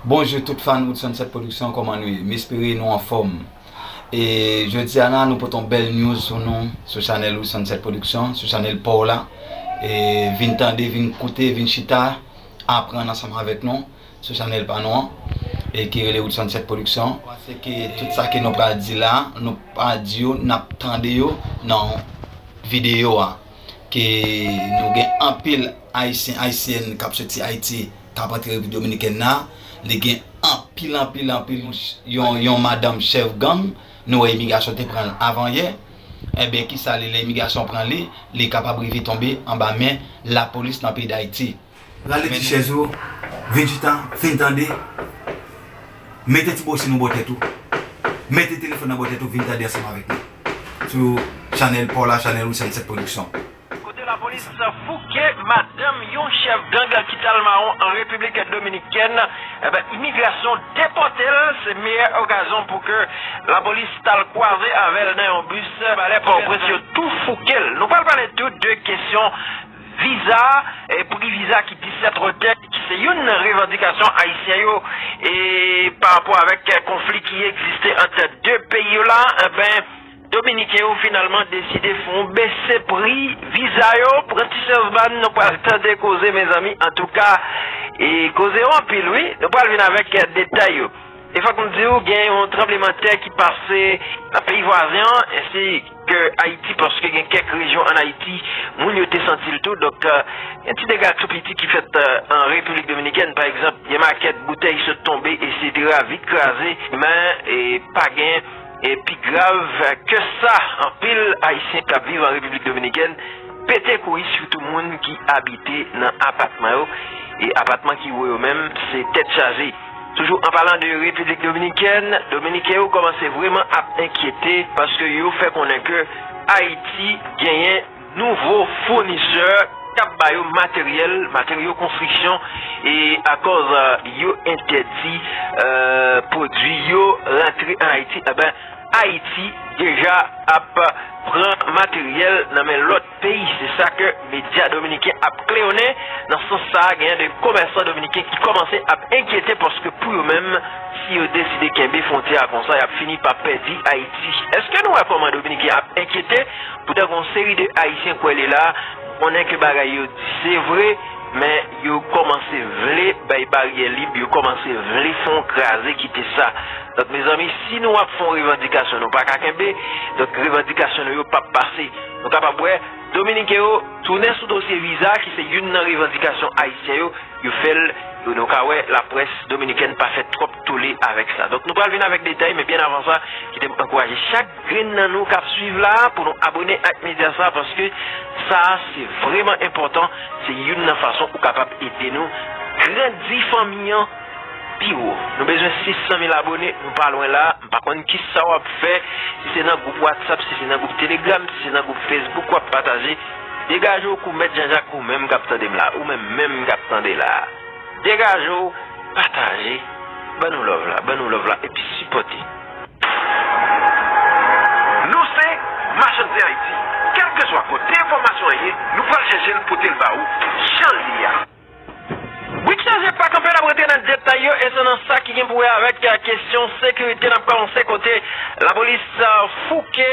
Bonjou tout fan Wood Sunset production kòman nou ye? M espere nou anfòm e jodi a la nou pote yon bèl news pou nou sou chanèl Wood Sunset production, sou chanèl paw la e vin tande, vin koute, vin chita aprann ansanm avèk nou sou chanèl pa nou an e ki rele Wood Sunset production se ke tout sa ke nou pral di la nou pa di yo, nap tande yo nan videyo a ke nou gen anpil ayisyen, ayisyèn kap soti Ayiti. Tap antre repiblik dominikèn nan li gen anpil anpil anpil yon madanm chèf gang nou wè imigasyon te pranl avan yè ebyen kisa li lè imigasyon pran li li kapab rive tonbe anba men lapolis nan peyi dayiti. Rale ti chèz ou, vin chita, fin tande, mete ti boshin ou bò tèt ou, mete telefòn nan bò tèt ou vin tande ansanm avèk nou sou chanèl paw la, chanèl Wilson 7 production. Kote lapolis fouke madanm yon chèf gang ki t al mawon an Repiblik Dominikèn, enben imigrasyon depòte l, se meyè okazyon pou ke lapolis t al kwaze avè l nan yon bis, palè Pòtoprens yo tou fouke l. Nou pral pale tou de kesyon viza, pri viza ki disèt wotè, ki se youn nan revandikasyon ayisyen yo e pa rapò avèk konfli ki egziste ant 2 peyi yo la, enben. Dominiken yo finalman deside fon bese pri viza yo pran ti chans bann nou pral tande koze mezanmi antouka koze yo anpil wi nou pral vin avèk detay yo e fòk m diw gen yon tranbleman tè ki pase nan peyi vwazen an ensi ke ayiti paske gen kèk rejyon an ayiti moun yo te santil tou donk gen ti dega tou piti ki fèt an repiblik dominikèn pa egzanp gen makèt boutèy sot tonbe esetera vit kraze men pa gen E pi grav keu sa, anpil Ayisyen k ap viv an Repiblik Dominikèn pete kouri sitou moun ki abite nan apatman yo, e apatman ki wo yo menm se tèt chaje. Toujou an palan de Repiblik Dominikèn, Dominiken yo kòmanse vreman ap enkyete paskeu yo fè konnen keu Ayiti genyen. nouvo founisè k ap ba yo materyèl, materyo konstriksyon e akòz yo entèdi pwodui yo rantre an Ayiti, enben Ayiti deja ap pran materyèl nan men lòt peyi. Se sa ke medya dominiken ap kleyonnen. Nan sans sa a, genyen de komèsan dominiken ki kòmanse ap enkyete paske pou yo menm, si yo deside kenbe fwontyè a konsa, y ap fini pa pèdi Ayiti. Eske nou wè kòman dominiken ap enkyete? Poutan gen yon seri de Ayisyen kwè li la, konnen ke bagay yo di se vre, men yo kòmanse vle bay baryè lib, yo kòmanse vle fè yon kraze kite sa. Donk mezanmi, si nou ap fè yon revandikasyon nou pa ka kenbe, donk revandikasyon nou yo pap pase. Nou kapab wè, Dominiken yo tounen sou dosye viza ki se youn nan revandikasyon Ayisyen yo, yo fè l, e nou ka wè laprès dominikèn pa fè twòp tole avèk sa. Donk nou pral vin avèk detay, men byen avan sa, kite m ankouraje chak. Grenn nan nou kap swiv la pou nou abone ak media sa paske sa se vreman enpotan se youn nan fason ou kapab ede nou grandi fanmi an pi wo nou bezwen 600 mil abone nou pa lwen la mpa konn kisa wap fè si se nan group whatsapp si se nan group telegram si se nan group facebook wap pataje degaje w kou mèt janjak ou menm kap tande m la ou menm menm kap tande la degaje w pataje ban nou love la ban nou love la epi sipote. Nou se Machann Zen Ayiti. Kèlkeswa kote enfòmasyon an ye, nou pral chèche l pote l ba ou jan l ye a. Brik Chaje pa kanpe nap rantre nan detay yo e se nan sa ki gen pou wè avèk kesyon sekirite nap kòmanse kote lapolis fouke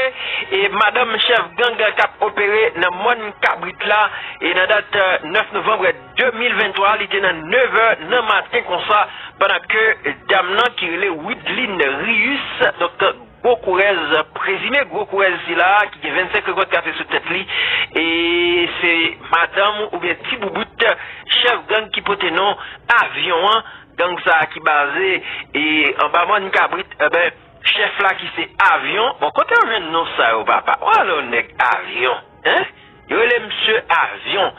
madanm chèf gang kap opere nan mòn kabrit la e nan dat 9 novanb 2023 li te nan 9 è nan maten konsa pandan ke dam nan ki rele Wideline Rius donk gwo kourèz prezime gwo kourèz sila ki gen 25 rekòt kafe sou tèt li e se madanm oubyen ti boubout chèf gang ki pote non Avion an gang sa ki baze e anba mòn kabrit chèf la ki se Avion bon kote yo jwenn non sa yo papa ou alon nèg Avion. Hein? Yo rele msye Avion.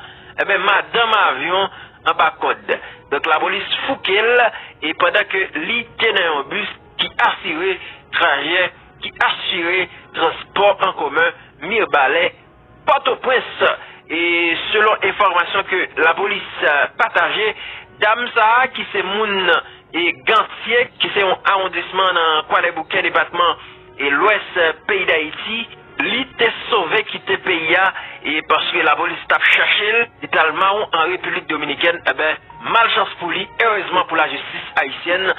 Enben madanm Avion anba kòd. Donk lapolis fouke l e pandan ke li te nan yon bus ki asire trajè, ki asire transpò an komen Mirbalè, Pòtoprens. E selon enfòmasyon ke lapolis pataje, dam sa a ki se moun e Gantye ki se yon awondisman nan Kwadèboukè depatman e lwès peyi Dayiti, Li te sove kite peyi a e paske lapolis tap chache l, li t al mawon an Repiblik Dominikèn, enben malchans pou li, erezman pou lajistis ayisyèn,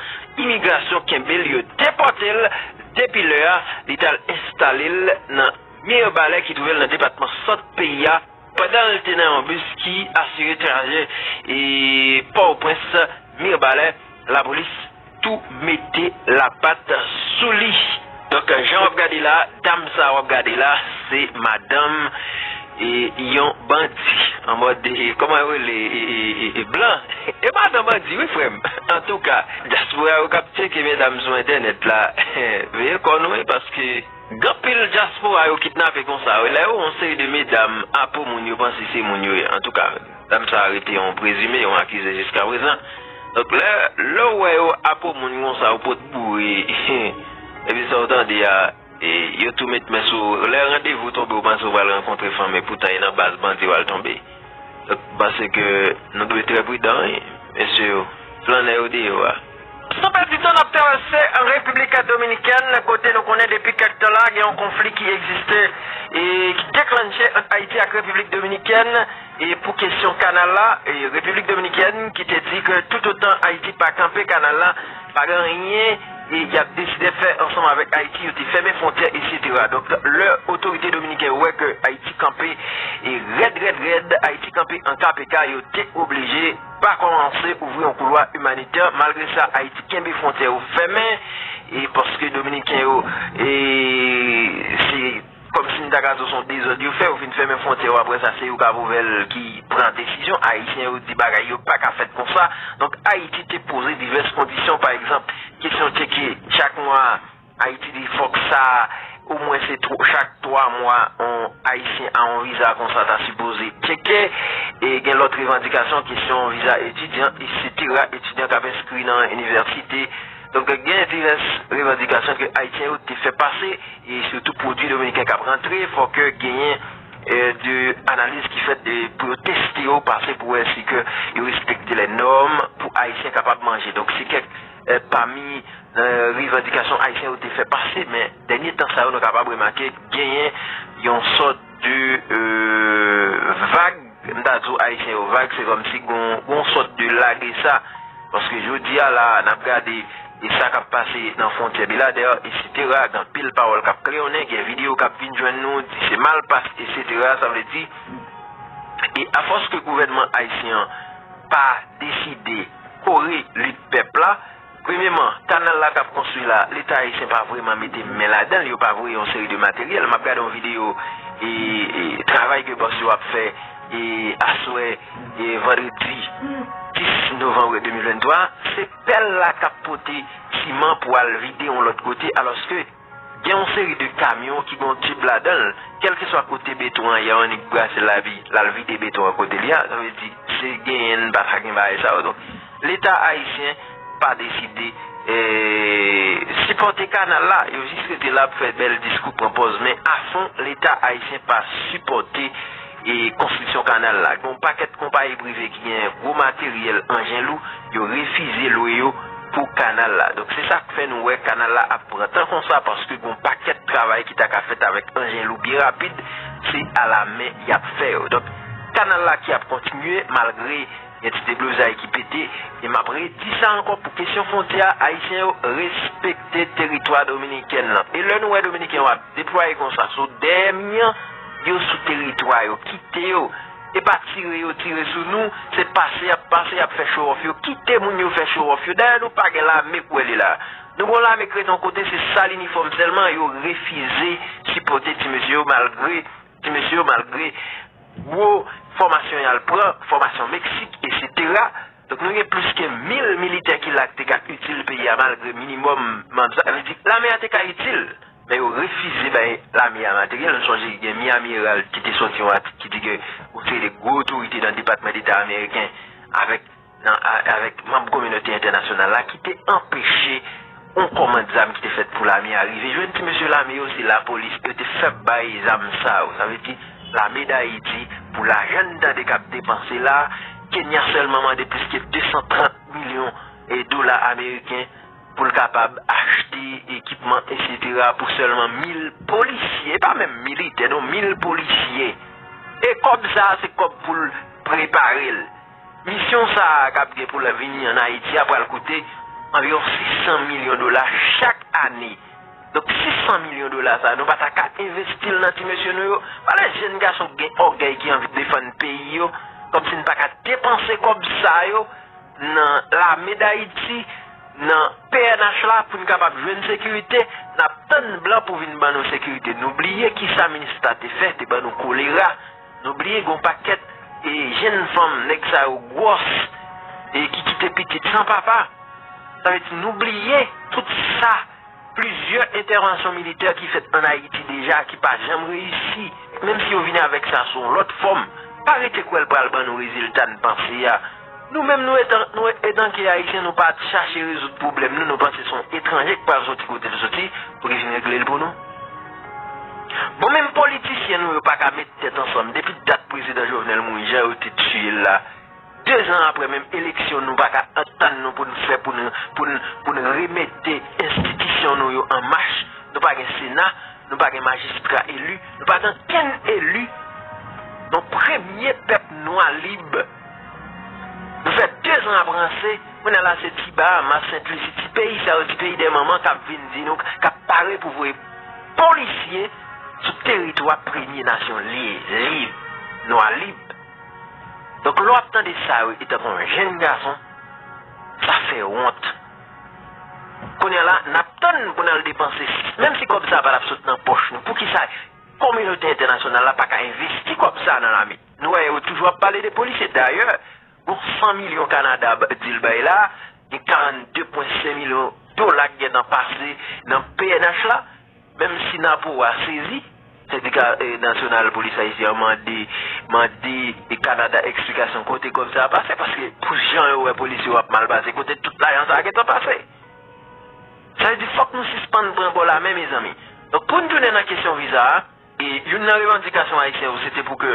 imigrasyon kenbe l, yo depòte l, depi lè a, li t al enstale l nan Mirbalè ki twouve l nan depatman Sant peyi a. Pandan l te nan yon bis ki asire trajè Pòtoprens, Mirbalè, lapolis tou mete lapat sou li. Donk jan w ap gade la, dam sa a w ap gade la, se madanm yon bandi. An mòd, kòman yo rele, blan. E madan bandi wi frè m. Antouka, dyaspora yo k ap tyeke medam sou entènèt la, veye kò nou wi paske. Gan pil dyaspora yo kidnape konsa wi lè yo wè yon seri de medam a po moun yo panse se moun yo ye antouka dam sa a rete yon prezime yon akize jiska prezan donk lè lè w wè yo a po moun konsa yo pot boure epi sa w tande a yo tou met men sou w lè randevou tonbe w panse w pral rankontre fanm epoutan e nan baz bandi w al tonbe donk m panse ke nou dwe trè pridan wi mesye yo flannè yo deyò a. San pèdi tan n ap travèse República Dominicana kote nou konnen depi kèk tan la gen yon konfli ki egziste e ki deklannche ant Ayiti ak Repiblik Dominikèn e pou kesyon kanal la e Repiblik Dominikèn ki te di ke toutotan Ayiti pa kanpe kanal la pa gen anyen e y ap deside fè ansanm avèk Ayiti yo te fèmen fwontyè eksetera donk lè otorite dominiken yo wè ke Ayiti kanpe e rèd rèd rèd Ayiti kanpe an KPK yo te oblije pa kòmanse ouvri yon koulwa imanitè malgre sa Ayiti kenbe fwontyè yo fèmen e paske dominiken yo e se kòmsi m ta ka di w son dezòd yo fè yo fin fèmen fwontyè yo aprè sa se yo kap ouvè l ki pran desizyon ayisyen yo di bagay yo pa ka fèt konsa donk Ayiti te poze divès kondisyon pa egzanp kesyon tcheke chak mwa Ayiti di fòk sa o mwen se chak 3 mwa on ayisyen a on viza konsa ta sipoze tcheke e gen lòt revandikasyon kesyon viza etidyan eksetera etidyan kap enskri nan inivèsite donk gen divès revandikasyon ke ayisyen yo te fè pase e sitou pwodwi dominiken kap rantre fòk genyen de analiz ki fèt pou yo teste yo pase pou wè si ke yo respekte lè nòm pou ayisyen kapab manje donk se kèk. Pami revandikasyon Ayisyen yo te fè pase, men dènye tan sa yo nou kapab remake genyen yon sòt de vag, m ta di w Ayisyen yo vag, se kòmsi gen yon sòt de lage sa. Paske jodi a la a, n ap gade e sa k ap pase nan fwontyè Beladè, esetera, gen anpil pawòl k ap klewonnen, gen videyo k ap vin jwenn nou, di se malpas, esetera, sa vle di, e afòs ke gouvènman Ayisyen an pa deside. Kore lit pèp la. Premyeman, kanal la kap konstwi la, leta ayisyen pa vreman mete men ladan l, yo pa voye yon seri de materyèl. Map gade yon videyo travay ke bòs yo ap fè aswè vandredi 10 novanm 2023, se pèl la kap pote siman pou al vide yon lòt kote alòske. Gen yon seri de kamyon ki gen yon tib ladan l, kèlkeswa kote beton an ye annik brase lavi l al vide beton an kote li a, sa vle di se genyen n pa ka gen bagay sa yo donk leta ayisyen pa deside sipòte kanal la yo jis rete la ap fè bèl diskou pran pòz men afon leta ayisyen pa sipòte e konstriksyon kanal la. Gen yon pakèt konpayi prive ki gen gwo materyèl, anjen lou, yo refize lwe yo pou kanal la. Donk se sa k fè nou wè kanal la ap pran tan konsa paske gen yon pakèt travay ki ta ka fèt avèk anjen lou byen rapid, se alamen y ap fè yo. Donk kanal la ki ap kontinye malgre. Gen ti deblozay ki pete, e m ap redi sa ankò pou kesyon fwontyè a, Ayisyen yo respekte teritwa Dominiken lan. E lè nou wè Dominiken yo ap deplwaye konsa sou dèyè mi an, yo sou teritwa yo, kite yo. E pa tire yo tire sou nou, se pase y ap pase, y ap fè chowòf yo. Kite moun yo fè chowòf yo. Dayè nou pa gen lame kou elye la a. Nou gen yon lame k ret yon kote, se sal inifòm sèlman, yo refize sipòte ti mesye yo malgre. Ti mesye yo malgre gwo fòmasyon y al pran, fòmasyon Meksik, esetera, donk nou gen plis ke 1000 militè ki la k te ka itil peyi a malgre minimòm manp sa vle di lame a te ka itil men yo refize bay lame a materyèl nou sonje gen Miami Herald ki te sòti yon atik ki di ke yon seri de gwo otorite nan depatman deta ameriken avèk nan avèk manb kominote entènasyonal la ki te anpeche yon kòmand zam ki te fèt pou lame a rive jwenn ti mesye lame yo, se lapolis yo te fèb bay zam sa yo, sa vle di lame dayiti pou lajan n tande k ap depanse la, Kenya sèlman mande plis ke 230 milyon dola ameriken pou l kapab achte ekipman esetera pou sèlman 1000 polisye, e pa menm militè non, 1000 polisye, e kòb sa a se kòb pou l prepare l. Misyon sa a k ap gen pou l vini ann Ayiti a pral koute anviwon 600 milyon dola chak ane. Donk 600 milyon dola sa a nou pa ta ka envesti l nan ti mesye nou yo? Pale jenn gason ki gen ògèy ki anvi defann peyi yo kòmsi n pa ka depanse kòb sa yo nan lame dAyiti, nan pnh la pou n kapab jwenn sekirite. N ap tann blan pou vin ban nou sekirite. Nou bliye kisa Minista te fè, te ban nou kolera. Nou bliye gon pakèt e jenn fanm nèg sa yo gwòs e ki kite pitit san papa. Sa vle di nou bliye tout sa plizyè entèvansyon militè ki fèt an Ayiti deja ki pa janm reyisi. Menm si yo vini avèk sa sou yon lòt fòm, pa rete kwè l pral ban nou rezilta n panse a. Nou menm nou etanke Ayisyen nou pa chache rezoud pwoblèm nou, nou panse son etranje k pral soti kote l soti pou li vin regle l pou nou. Bon menm politisyen nou yo paka met tèt ansanm depi dat prezidan Jovenel mouri jan yo te tiye l la 2 zan aprè menm eleksyon nou paka antann nou pou n fè pou n pou n pou n remete enstitisyon nou yo an mach nou pa gen sena nou pa gen majistra eli nou pa gen okenn eli yon premye pèp nwa lib Nou fè dezan ap ranse, kounye a la se ti Bahamas, Sent Lusi, ti peyi sa yo, ti peyi de manman k ap vin di nou, k ap pare pou voye polisye sou teritwa premye nasyon lib, nwa lib. Donk lè w ap tande sa yo etanke yon jenn gason, sa fè wont. Kounye a la, n ap tann pou n al depanse, menm si kòb sa a pa t ap sot nan pòch nou, poukisa kominote entènasyonal la pa ka envesti kòb sa a nan lame? Nou wè yo toujou ap pale de polisye. Dayè, gon 100 milyon Kanada ap di l bay la, gen 42 pwen 5 milyon dola ki gen tan pase nan pnh la, menm si Napo a sezi. Sendika Nasyonal Polis Ayisyen an mande mande Kanada eksplikasyon kote kòb sa a pase, paske pou jan yo wè polisye yo ap mal pase, kote tout lajan sa a gen tan pase? Sa vle di fòk nou sispann pran bò lamen mezanmi. Donk pou n tounen nan kesyon viza a. E youn nan revandikasyon Ayisyen yo se te pou ke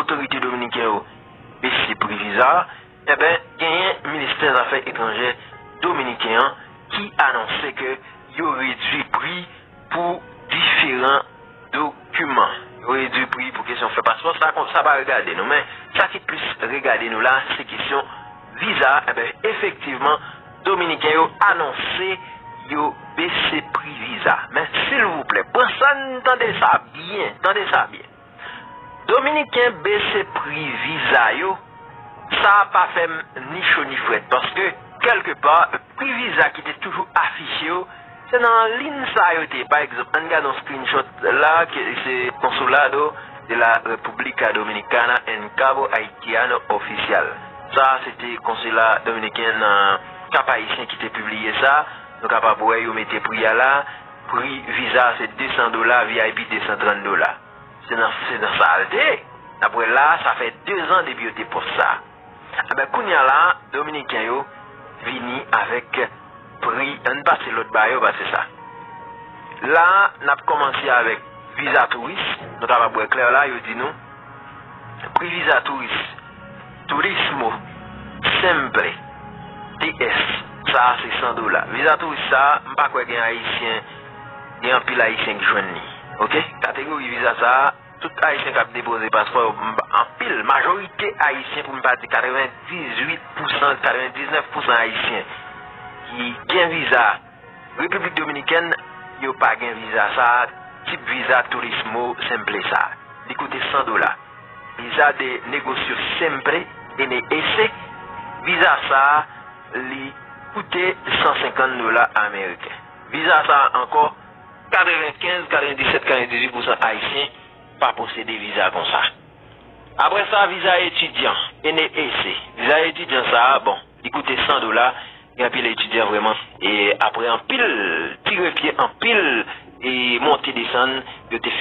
otorite dominiken yo bese pri viza a. Enben, genyen ministè zafè etranjè dominiken an ki anonse ke yo redui pri pou diferan dokiman. Yo redui pri pou kesyon fè paspò. Sa pa regade nou. Men, sa ki plis regade nou la, se kesyon. Viza enben efektivman dominiken yo anonse yo bese pri viza men silvouplè pran sann tande sa byen tande sa byen dominiken bese pri viza yo sa pa fèm ni cho ni frèt paske kèlke pa pri viza ki te toujou afiche yo Se nan lin sa yo te. Pa egzanp, ann gad yon screenshot la ke se Consulado de la República Dominicana en Cabo Haitiano Oficial. Sa a se te konsila dominiken nan Kap Ayisyen ki te pibliye sa. Nou kapab wè yo mete pri a la. Pri viza a se 200 dola, vip 230 dola. Se nan sa a l te. N ap wè la a, sa fè dezan depi yo te pòs sa. Enben kounya la dominiken yo vini avek pri ann pase lot ba yo pase sa la nap komanse avek viza touris nou kapab wè klè la yo di nou pri viza touris turismo simple TS sa a se 100 dola viza touris sa a m pa kwè gen ayisyen gen anpil ayisyen k jwenn li ok kategori viza sa a. Tout ayisyen kap depoze paspò yo anpil majorite ayisyen pou m pa di 98 pousan 99 pousan ayisyen ki gen viza repiblik dominikèn yo pa gen viza sa tip viza turismo simple sa li koute 100 dola viza de negosio simple NES viza sa li koute 150 dola ameriken viza sa ankò 95, 97, 98 pousan Ayisyen pa posede viza konsa. Apre sa, viza etidyan, NEEC. Viza etidyan sa a, bon, li koute 100 dola, gen anpil etidyan vrèman, e apre anpil tire pye, anpil monte desann, yo te.